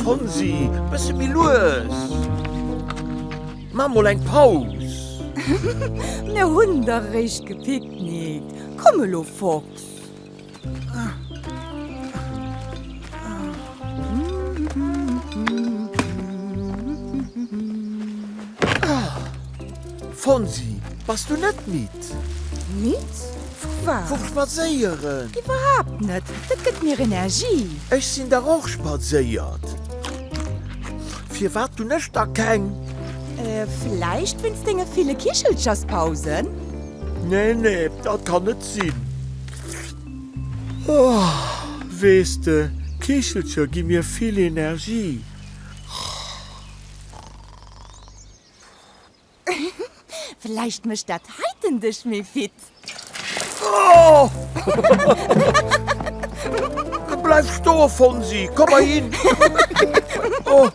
Fonsi, bësse méi lues! Maa mol eng Paus! Mir hunn der réischt gepicknickt. Komm elo, Fox! Fonsi, bass du net midd? Midd? Vu wat? Vum Spadséieren. Iwwerhaapt net, dat gëtt mir Energie. Ech sinn dach och spadséiert. Firwat hunn ech da keng? Vläicht wéinst denge ville Kichelcherspausen? Nee, nee, dat kann net sinn. Oh, weess de, Kichelcher gi mir vill Energie. Vläicht mécht dat heiten dech méi fit. Oh! Bleif stoen, Fonsi, komm erhin. Oh,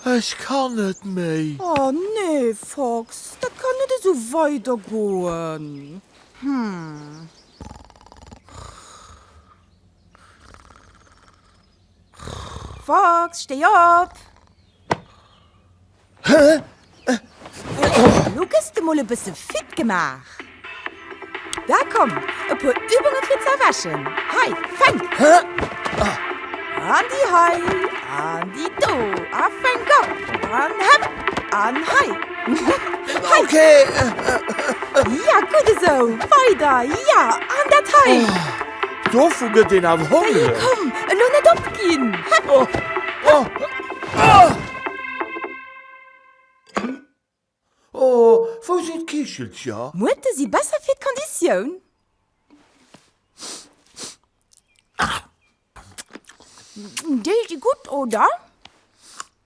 Ech kann net méi! Oh nee Fox, dat kann net esou weider goen! Fox, stéi op! Elo gëss de mol e bësse fit gemaach. Da komm, e puer Übunge fir z'erwächen. Hei, fänk! An déi hei, an déi do, a fänk op! An hëpp! An hei! Hei! Ja, gutt esou! Weider! Ja, an dat hei! Dovu gëtt een awer hongreg. Komm, elo net opginn! Oh, wou sinn d'Kichelcher? Muerte si besser fir d'Konditioun. Déi si gutt, oder?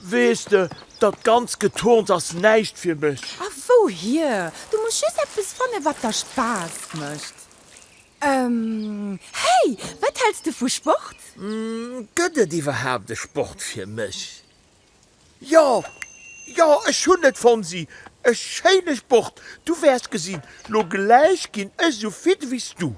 Weess de, dat ganzt Geturns ass näischt fir mech. A wouhier? Du muss just eppes fannen, wat der Spaass mécht. Ehm, hey! Wat häls de vu Sport? Gëtt et iwwerhaapt e Sport fir mech? Jo, jo, ech hunn et, Fonsi! E schéine Sport! Du wäers gesinn, lo gläich ginn ech esou fit wéi s du.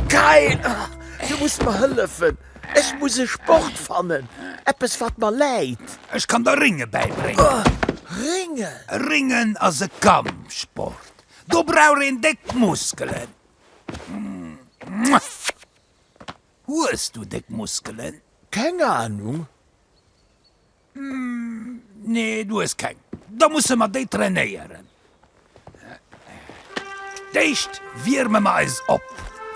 Kyle! Du muss mer hëllefen! Ech muss e Sport fannen! Eppes wat mer läit! Ech kann der Rénge bäibréngen. Rénge? Réngen ass e Kampfsport. Do brauch een déck Muskelen. Hues du déck Muskelen? Keng Ahnung. Nee, du hues keng. Da musse mer déi trainéieren. D'éischt wierme mer eis op.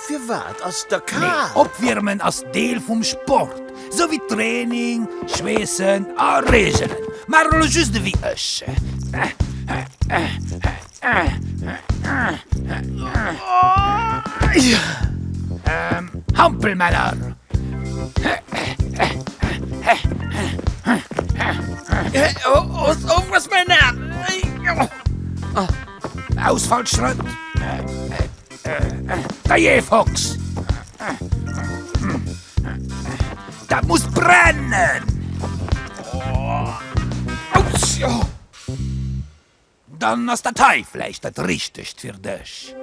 Firwat ass der kal? Opwiermen ass Deel vum Sport, sou wéi Training, Schweessen a Reegelen. Maach elo just ewéi ech. Hampelmänner! Ausfallschrëtt! Firefox! Dat muss brennen! Dann ass dat hei vläicht dat Richtegt fir dech.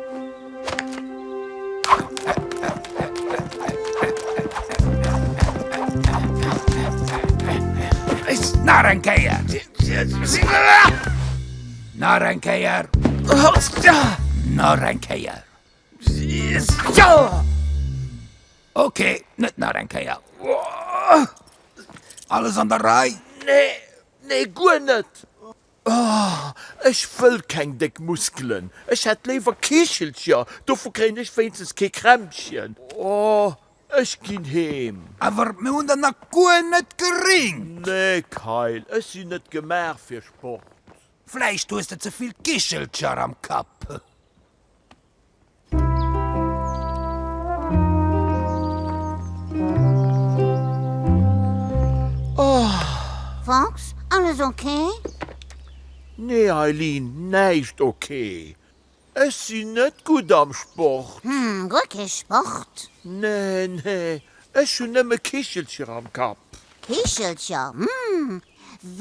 Nach eng Kéier! Nach eng Kéier! Nach eng Kéier! Ok, net nach eng Kéier! Alles an der Rei? Nee, nee, guer net! Ech wëll keng déck Muskelen, ech hätt léiwer Kichelcher, dovu kréien ech wéinstens kee Krämpchen. Ech ginn heem. Awer mir hunn der nach guer net geringt. Nee Kayl, ech sinn net gemaach fir Sport. Vläicht hues de ze vill Kichelcher am Kapp. Fox, alles ok? Nee Eileen, näischt ok. Ech sinn net gutt am Sport. Hm, guer kee Sport? Nee, nee, ech hunn nëmme Kichelcher am Kapp. Kichelcher? Hm,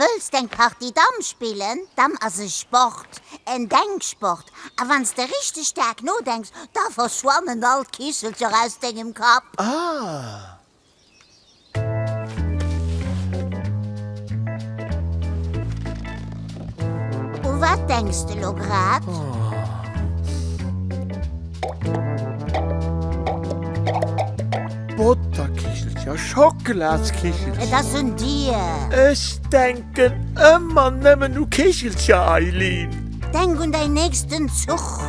wëlls d'eng Partie Damm spillen? Damm ass e Sport, en Denksport. A wann s de richteg staark nodenks, da verschwannen all d'Kichelcher aus dengem Kapp. Ah, U wat denks de lo grad? Botterkichelcher, Schockeladskichelcher. Et ass un dir. Ech denken ëmmer nëmmen u Kichelcher, Eileen. Denk un däin nächsten Zuch.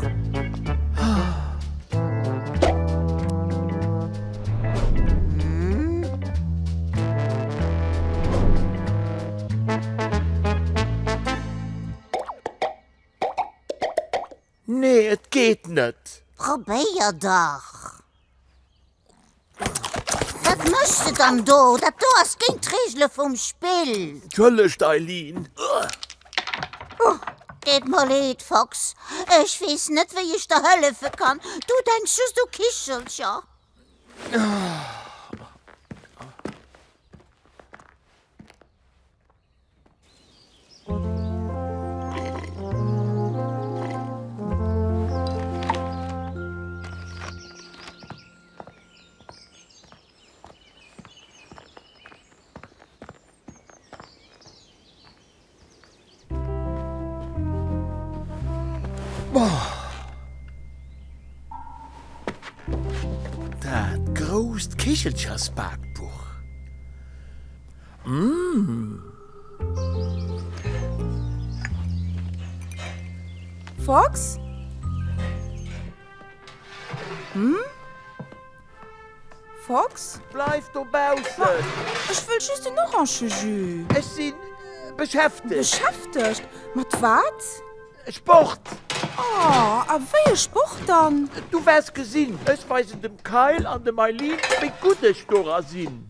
Nee, et geet net. Probéier dach! Wat méchs de dann do? Dat do ass géint d'Reegele vum Spill! Entschëllegt, Eileen. Oh, deet mer leed, Fox. Ech weess net, wéi ech der hëllefe kann. Du denks just u Kichelcher. Dat grousst Kichelchersbakbuch. Fox? Fox? Bleif dobaussen! Ma, ech wëll just en Orange-Jus! Ech si beschäftegt. Beschäftegt? Mat wat? Sport! Oh, a wéi e Sport dann? Du waers gesinn! Ech weisen dem Kyle an dem Eileen, wéi gutt ech dora sinn.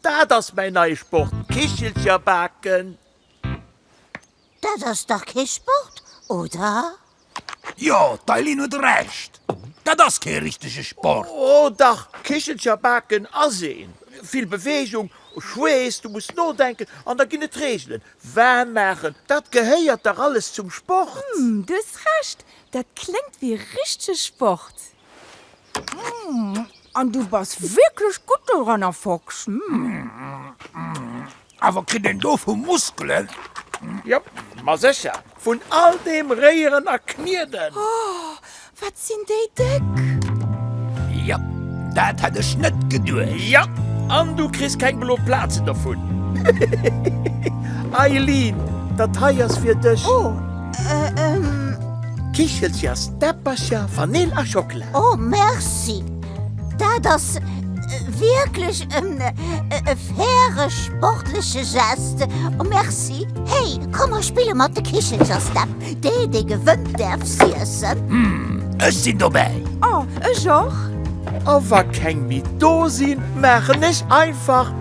Dat ass mäin neie Sport, Kichelcher baken. Dat ass dach kee Sport, oder? Jo, d'Eileen huet Recht, dat ass kee richtege Sport. O dach, Kichelcher baken ass een. Vill Beweegung, Schweess, du muss nodenken an da ginn et Reegelen. Waarm maachen, dat gehéiert dach alles zum Sport. Hm, du hues Recht, dat kléngt wéi richtege Sport. An du bass wierklech gutt doranner, Fox. Awer kritt een dovu Muskelen? Jop, ma sécher, vun all deem Réieren a Knieden. Oh, wat sinn déi déck! Jop, dat hätt ech net geduecht. Jo, an du kriss keng blo Plazen dovun. Eileen, dat hei ass fir dech. Oh! Kichelcher, Steppercher, Vanill a Schockela. Oh merci! Dat ass wierklech e faire sportleche Geste. Merci! Hey, komm mer spille mat de Kichelcher, Stepp. Dee, dee gewënnt, däerf s'iessen. Ech sinn dobäi! Oh, ech och! A wa keng méi do sinn, maachen ech einfach.